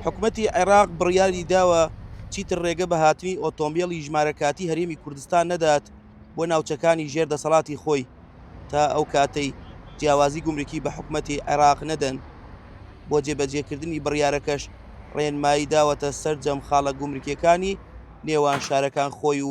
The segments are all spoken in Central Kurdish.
حکومەتی عێراق بڕیاری داوە چیتر ڕێگە بە هاتنی ئۆتۆمبێڵی ژمارە کاتی هەرێمی کوردستان نەدات بۆ ناوچەکانی ژێر دەسەڵاتی خۆی تا ئەو کاتەی جیاوازی گومرکی بە حکومەتی عێراق نەدەن بۆ جێبەجێکردنی بڕیارەکەش ڕێنمایی داوەتە سەرجەم خاڵە گومرکیەکانی نێوان شارەکان خۆی و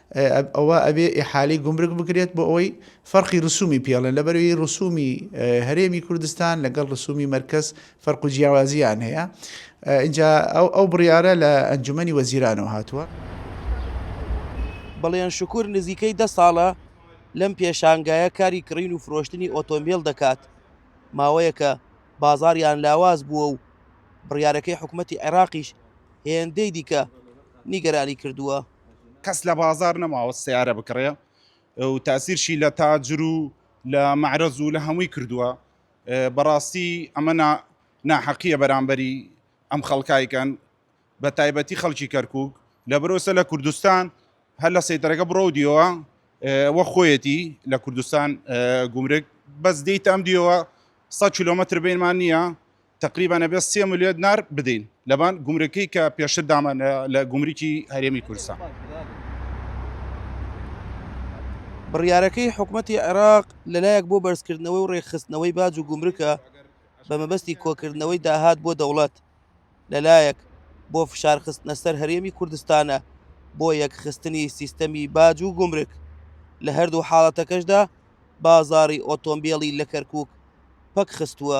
ئەوا ئەبێ ئیحالەی گومرگ بکرێت بۆ ئەوەی فەرقی رسومی پێڵێن، لەبەروی رسومی هەرێمی کوردستان لەگەڵ رسومی مەرکەز فەرق و جیاوازیان هەیە، ئینجا ئەو بڕیارە لە ئەنجومەنی وەزیرانەوە هاتووە. بەڵێن شکور نزیکەی دە ساڵە لەم پێشانگایە کاری کڕین و فرۆشتنی ئۆتۆمبێل دەکات، ماوەیەکە بازاڕیان لاواز بووە و بڕیارەکەی حکومەتی عێراقیش هێندەی دیکە نیگەرانی کردووە. کەس لە بازاڕ نەماوە سەیارە بکڕێ و تاسیرشی لە تاجر و لە مەعرەز و لە هەمووی کردووە بەڕاستی ئەمە ناحەقیە بەرامبەری ئەم خەڵکایکەن بە تایبەتی خەڵکی کەرکک لە برۆسە لە کوردستان هەر لە سەیتەرەکە بڕۆ دیەوە وە خۆیەتی لە کوردستان گومرگ بەس دیت ئەم دیەوە 100 کیلومتر بینمان نییە تەقریبەن ئەبێت سێ ملیۆن دینار بدەین لەبان گومرکی کە پێشتر دامان لە گومرکی هەرێمی کوردستان. بڕیارەکەی حکومەتی عێراق لەلایەک بۆ بەرزکردنەوەی و ڕێکخستنەوەی باج و گومرکە بە مەبەستی کۆکردنەوەی داهات بۆ دەوڵەت لەلایەک بۆ فشارخستنە سەر هەرێمی کوردستانە بۆ یەکخستنی سیستەمی باج و گومرک لە هەردوو حاڵەتەکەشدا بازاری ئۆتۆمبیلی لە کەرکک پەک خستووە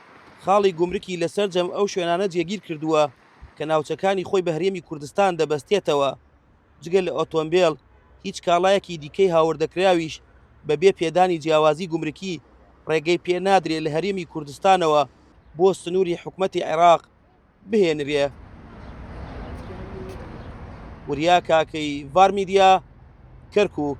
خاڵی گومرکی لە سەرجەم ئەو شوێنانە جێگیر کردووە کە ناوچەکانی خۆی بە هەرێمی کوردستان دەبەستێتەوە، جگە لە ئۆتۆمبێل، هیچ کاڵایەکی دیکەی هاوردەکراویش بەبێ پێدانی جیاوازی گومرکی ڕێگەی پێ نادرێ لە هەرێمی کوردستانەوە بۆ سنووری حکومەتی عێراق بهێنرێ. وریا کاکەی، ڤار میدیا، کەرکووک.